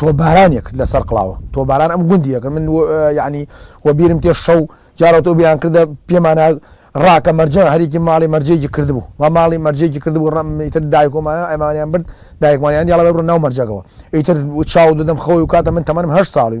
تۆبارانێک لە سەر قڵاوە تۆباران ئەم گوندی یەکە من یعنی وە بیرم تێ شەو جارەوە تۆ بیان کردە پێمانە ڕاکە مەرجە هەرێکی ماڵی مەرجێکی کردبوو و ماڵی مەرجێکی کردبوو ڕم ئیتر دایکۆمانە ئەمانیان برد دایکمانیان دیڵە بڕ ناو مەرجەکەەوە ئیتر چاو دەدەم خۆی و کاتە من تەمەنم هەر ساڵی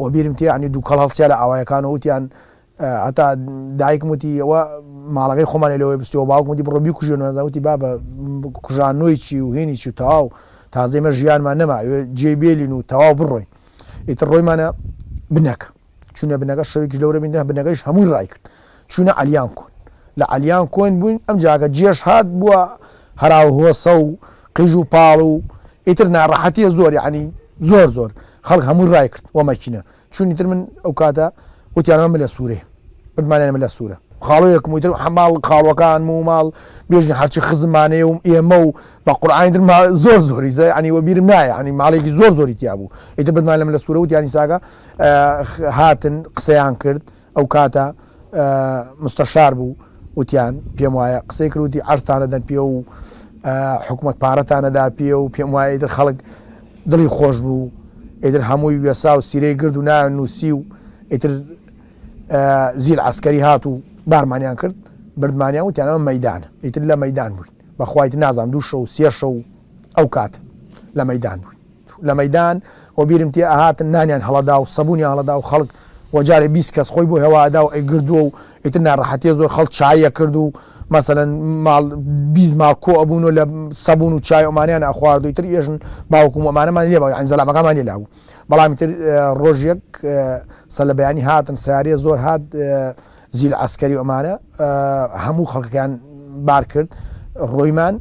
وە بیرم تێ یەعنی دووکەڵ هەڵسیا لە ئاوایەکان و وتیان هەتا دایکم وتی ئەوە ماڵەکەی خۆمانی لەوەی بستەوە باوکم وتی بڕۆ بیکوژێنەوە دەوتی بابە کوژاننووی چی و هینی چی و تەواو تازەی مە ژیانمان نەما جێی بێلین و تەواو بڕۆین ئیتر ڕۆیمانە بنەکە چونە بنەکە شەوێکی لەورە بینە بنەکەیش هەمووی ڕای کرد چووینە عەلیان کۆن لە عەلیان کۆین بووین ئەم جاکە جێش هات بووە هەراو هۆسە و قیژ و پاڵ و ئیتر ناڕەحەتیە زۆر یەعنی زۆر زۆر خەڵک هەمووی ڕای کرد وە مەکینە چوون ئیتر من ئەو کاتە وتیانەوە ملە سوورێ وتمانیان ملە سوورە خاڵۆیەکم وتر حەماڵ خاڵۆکانم و ماڵ بێژن هەرچی خزمانەیە و ئێمە و بە قورعانی تر ما زۆر زۆری زە عنی وەبیرم نایە عنی ماڵێکی زۆر زۆری تیا بوو ئیتر بتمان لەم لە سوورە وتیانی ساگە هاتن قسەیان کرد ئەو کاتە مستەشار بوو وتیان پێم وایە قسەی کروتی ئەرستانەدەن پێ و حکومت پارەتانەدا پێ و پێم وایە ئیتر خەڵک دڵی خۆش بوو ئیتر هەمووی وێسا و سیرەی گرد و نایان نووسی و ئیتر زیل عسکەری هات و بارمانیان کرد بردمانیان وتیانەوە مەدان ئیتر لە مەدان بووین بەخوایت نازان دوو شە و سێشە و ئەو کات لە مەدان بووین لە مەیدان وە بیرم تێ ئەهاتن نانیان هەڵەدا و سەبونیان هەڵەدا و خەڵک وە جارێ بیست کەس خۆی بۆ هەوا ئەدا و ئەیگردووە و ئیتر ناڕەحەتیە زۆر خەڵک چایی ئەکرد و مەسەلەن ماڵ بیست ماڵ کۆ ئەبوون و لە سەبون و چای ئەمانیان ئەخوارد و ئیتر ئێژن باوکم و ئەمانەمان لێ بوو یانی زەلامەکانمان لێ لابوو بەڵام ئیتر ڕۆژ یەک سەر لە بەیانی هاتن سەیارەیە زۆر هات زیل عەسکەری ئەمانە هەموو خەڵکەکەیان بار کرد ڕۆیمان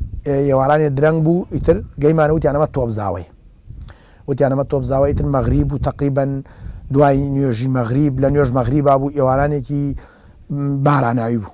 ئێوارانێ درەنگ بوو ئیتر گەیمان وتیان ئەمە تۆبزاوەی وتیان ئەمە تۆبزاوە ئیتر مەغریب و تقریبن دوای نوێژی مەغریب لە نوێژ مەغریبا بوو ئێوارانێکی باراناوی بوو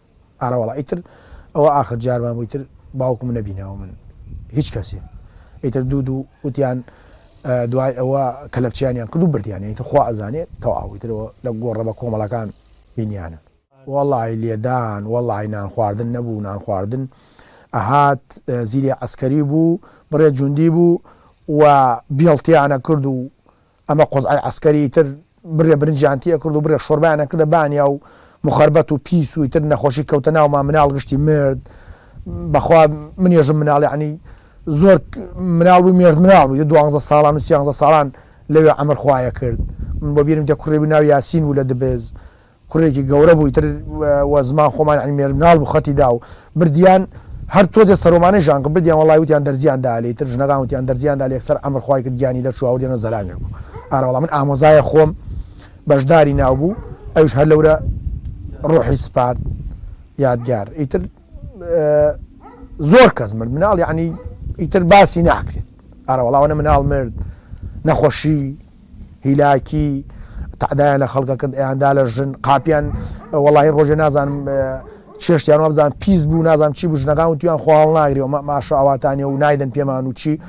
ئارەوەڵا ئیتر ئەوە ئاخر جارمان بوو ئیتر باوکم نەبینەوە من هیچ کەسێ ئیتر دوو دوو وتیان دوای ئەوە کەلەپچیانیان کرد و بردیان ئیتر خوا ئەزانێت تەواو ئیترەوە لە گۆڕە بە کۆمەڵەکان بینیانە وەڵی لێدان وەڵی نان خواردن نەبوو نان خواردن ئەهات زیری عسکەری بوو بڕێ جوندی بوو و بیڵتیانە کرد و ئەمە قوزعەی عەسکەری ئیتر بڕێ برنجیان تێ ئەکرد و بڕێ شۆربایان ئەکردە بانیا و مخەربەت و پیس و ئیتر نەخۆشی کەوتە ناومان مناڵ گشتی مرد بەخوا منێژم مناڵ یعنی زۆر مناڵ بوو مێژ مناڵ بوو دوانزە ساڵان و سیانزە ساڵان لەوێ ئەمر خوایە کرد من بۆ بیرم دێ کوڕێبی ناو یاسین بوو لە دبێز کوڕێکی گەورە بوو ئیتر وە زمان خۆمان یانی مێرد مناڵ بوو خەتی دا و بردیان هەر تۆزێ سەرۆمانەی ژان کرد بردیان وەڵای وتیان دەرزیان دا لێ ئیتر ژنەکان وتیان دەرزیان دا لێ یەکسەر ئەمر خوای کرد گیانی دەرچوو هاوردیانەوە زەلامێک بوو ئارە وەڵا من ئامۆزایە خۆم بەژداری ناو بوو ئەویش هەر لەورە ڕۆحی سپارد یادگار ئیتر زۆر کەس مرد مناڵ یعنی ئیتر باسی ناکرێت ئارە وەڵاوەە مناڵ مرد نەخۆشی هیلاکی تەعدایان لە خەڵکە کرد ئەیاندا لە ژن قاپیان وەڵی ڕۆژێ نازانم چێشتیان وابزان پیس بوو نازانم چی بژنەکان و تویان خۆڵ ناگری و ماشە ئاواتانی و نایدن پێمان و چی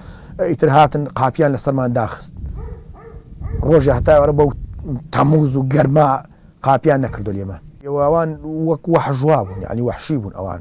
ئیتر هاتن قاپیان لەسەرمان داخست ڕۆژی هەتاوەرە بەو تەموز و گەرما قاپیان نەکردو لێمان ئەوان وەک وەحژوا بوون ینی وەحشی بوون ئەوان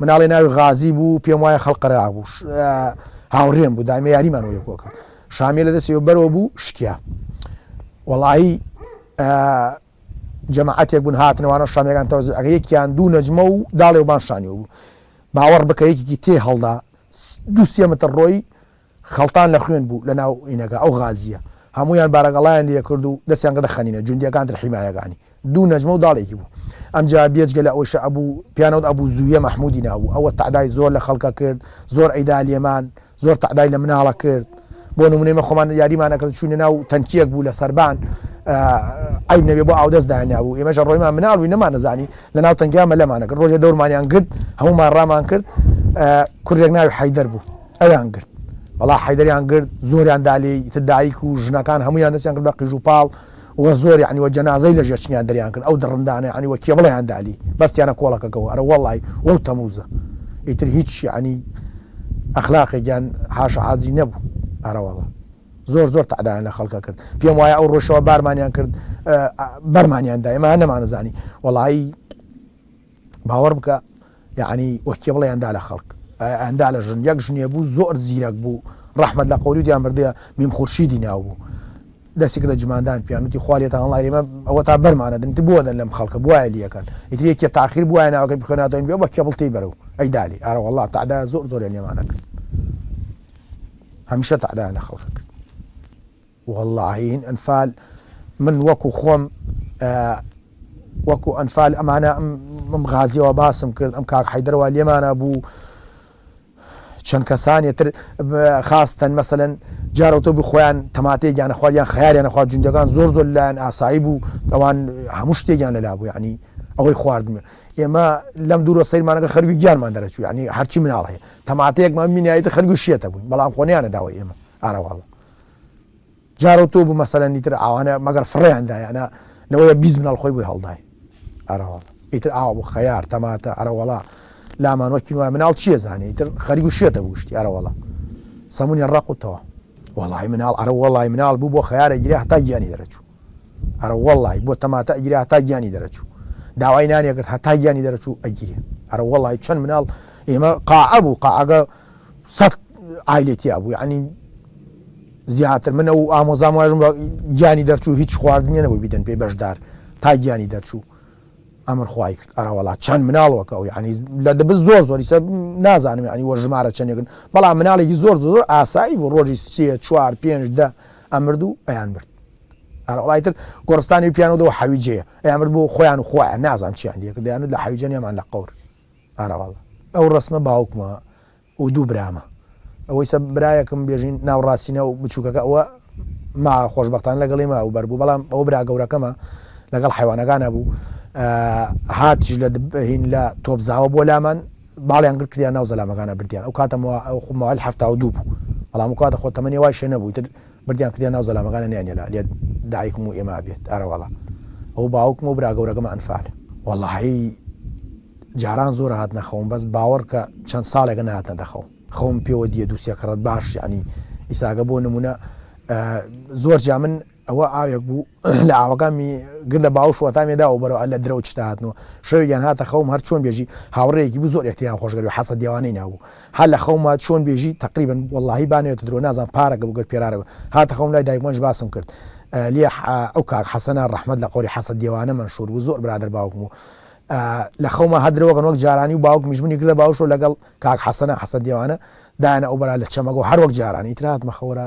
مناڵێ ناوی غازی بوو پێم وایە خەڵ قەرەع بوو ش هاوڕێم بوو دایمە یاریمان وەی کۆکرد شامیە لە دەستی بەرەوە بوو شکیا وەڵایی ئە جەماعەتێک بوون هاتنەوانە شامیەکان تەوزی ئەگە یەکیان دوو نەجمە و داڵێ وبان شانیەوە بوو باوەڕ بکە یەکێکی تێ هەڵدا دوو سێ متر ڕۆی خەڵتان لە خوێن بوو لە ناو ئینەکە ئەو غازییە هەموویان بارەگەڵایان لێ کرد و دەستیان کردە خەنینە جوندییەکان تر حیمایەکانی دوو نەجمە و داڵێکی بوو ئەمجا بێجگە لە ئەوەی شەئەبوو پیانەوت ئەبوو زوویە مەحموودی ناوبوو ئەوە تەعدای زۆر لە خەڵکە کرد زۆر ئەیدا لێمان زۆر تەعدای لە مناڵە کرد بۆ نموونەی مە خۆمان یاریمان ئەکرد چووینە ناو تەنکییەک بوو لە سەربان عیب نەبێ بۆ ئاودەست دانابوو ئێمەشە ڕۆیمان مناڵ بووی نەمانەزانی لە ناو تەنکیا مەلەمانە کرد ڕۆژێ دەورمانیان گرت هەموومان ڕامان کرد کوردێک ناوی حەیدەر بوو ئەویان گرت وەڵا حەیدەریان گرت زۆریان دا لێی ئیتر دایک و ژنەکان هەموویان دەستیان کرد بە قیژ و پاڵ وە زۆر یعنی وە جەنازەی لە ژێرچنیان دەریان کرد ئەو دڕندانە عنی وە کێبڵیان دالی بەستیانە کۆڵەکەکەەوە ئەرە وەڵی وەو تەموزە ئیتر هیچ عنی ئەخلاقێکیان حاشە حازی نەبوو ئەرەوەڵە زۆر زۆر تعدایان لە خەڵکە کرد پێم وایە ئەو ڕۆژەوە بارمانیان کرد بەرمانیان دایمە نەمانەزانی وەڵایی باوەڕ بکە یەعنی وە کێ بڵێ ئەندا لە خەڵک ئەندا لە ژن یەک ژنێ بوو زۆر زیرەک بوو ڕەحمەت لە قەوری دیان بردە بیم خورشیدی ناو بوو دەستی کردە جماندان پیانوتی خوالێتان هەڵای ئێمە ئەوە تا بەرمانە دنیت بۆ دەن لەم خەڵکە بواە لیەکەن ئیتر یەکێ تاخیر بواە ناوەکە بخێناتەوە بێ بە کێبڵ تی بەرەو ئەی دالی ئارە وڵا تادا زۆر زۆر لێمانە کرد هەمیشە تادایان لە خەڵکە کرد وەڵڵا هەین ئەنفال من وەکو خۆم وەکو ئەنفال ئەمانە ئەم غازیەوە باسم کرد ئەم کاک حیدرەوە لێمانە بوو چەند کەسانێ تر خاستەن مەسەن جارەوتە بوو خۆیان تەماتێ گیانە خواریان خیاریان نەخوا جوندەکان زۆر زۆر لایەن ئاسایی بوو ئەوان هەموو شتێکیان لەلا بوو ینی ئەوەی خواردمە ئێمە لەم دوورە سەیرمانەکە خەروی گیانمان دەرەچوو ینی هەرچی مناڵ هەیە تەماتەیەکمان مینایەتی خەرگو شێتە بوون بەڵام خۆنیانە داوای ئێمە ئارەواڵە جارەو تۆ بوو مەسەلەن دیتر ئاوانە مەگەر فڕێیان دایانە لەوەیە بیست مناڵ خۆی بۆی هەڵدای ئەرەوەڵ ئیتر ئاوا بوو خەیار تەماتە ئەرەوەڵا لامان وەکی وای مناڵ چیە زانانی ئیتر خەریک و شێتە بوشتی ئەرەوەڵا سەمونی ڕقوتەوە وەڵی مناڵ ئەرە وەڵی مناڵ بوو بۆ خیارە گرێ هەتا گیانی دەرەچوو ئەرە وەڵی بۆ تەماتە ئەگرێ هەتا گیانی دەرەچوو داوای نانێکرد هەتا گیانی دەرەچوو ئەگیرێ ئەرە وەڵی چەند مناڵ ئێمە قاعە بوو قاعگە سەد عایلەی تیا بوو یعنی زیاتر من ئەو ئامۆزام واژم گیانی دەرچوو هیچ خواردنیە نەبوو بیدەن پێی بەشدار تا گیانی دەرچوو ئەمر خی کرد ئەراوەڵا چەند مناڵەکە و ینی لە دەبز زۆر زۆری سە نازانم ینی وە ژمارە چەندێکن بەڵام مناڵێکی زۆر زۆر ئاسایی بۆ ڕۆژی سێ چوار پێنج دە ئەمرد و ئەیان مرد ئەراوەڵای تر گۆرستانی پیانەوەەوە حەویجەیە ئەیان مرد بۆ خۆیان و خۆیان نازان چیان لەکردیان و لە حەویجەنیمان لە قور ئاراواڵ ئەو ڕەسمە باوکمە و دوو برامە ئەوەیسە برایەکم بێژین ناو ڕاستینە و بچووکەکە ئەوە ما خۆشبەختان لەگەڵی ما و بەربوو بەڵام ئەو برا گەورەکەمە لەگەڵ حیوانەکانە بوو هاتیش لە هین لە تۆپزاوە بۆ لامان باڵیان گرت کردیان ناو زەلامەکانە بردیان ئەو کاتەمەوە ئەو خمەوەل هەفتا و دوو بوو بەڵام کاتە خۆ تەمەنی وای شێ نەبوویتر بردیان کردیە ناو زەلامەکانیان نەیان هێنا لێت دایکم و ئێمە ئەبێت ئەرەوەڵا ئەو باوکم و برا گەورەکەمە ئەنفال وەڵاهی جاران زۆر هات نەخەوم بەس باوەڕکە چەند ساڵێکە نهاتە دەخەوم خەوم پێوە دیە دووسێ کڕەت باش ینی ئیساگە بۆ نمونە زۆر جا من ئەوە ئاوێک بوو لە ئاوەکانی گردە باوش وەتامێدا و بەرەوە لە درەوت شتاتنەوە شەوێکیان هاتە خەوم هەر چۆن بێژی هاوڕێکی بوو زۆر ئەکتیان خۆشگەری حەسە دیوانەی نابوو هەر لە خەوما چۆن بێژی تەقریبا وەڵاهی با نەوێتە درۆ نازانم پارەگە بوو گەر پێرارە بوو هاتە خەوم لای دایکمانیش باسم کرد لیح ئەو کاک حەسەنە ڕەحمەت لە قۆری حەسە دێوانە مەنشور بوو زۆر برادەر باوکم بوو لە خەوما هەر درۆگەن وەک جارانی و باوکمیش منی گرە باوشۆ لەگەڵ کاک حەسەنە حەسە دێوانە دایانە ئەو بەرا لە چەمەگۆ هەروەک جارانی تراتمە خەورە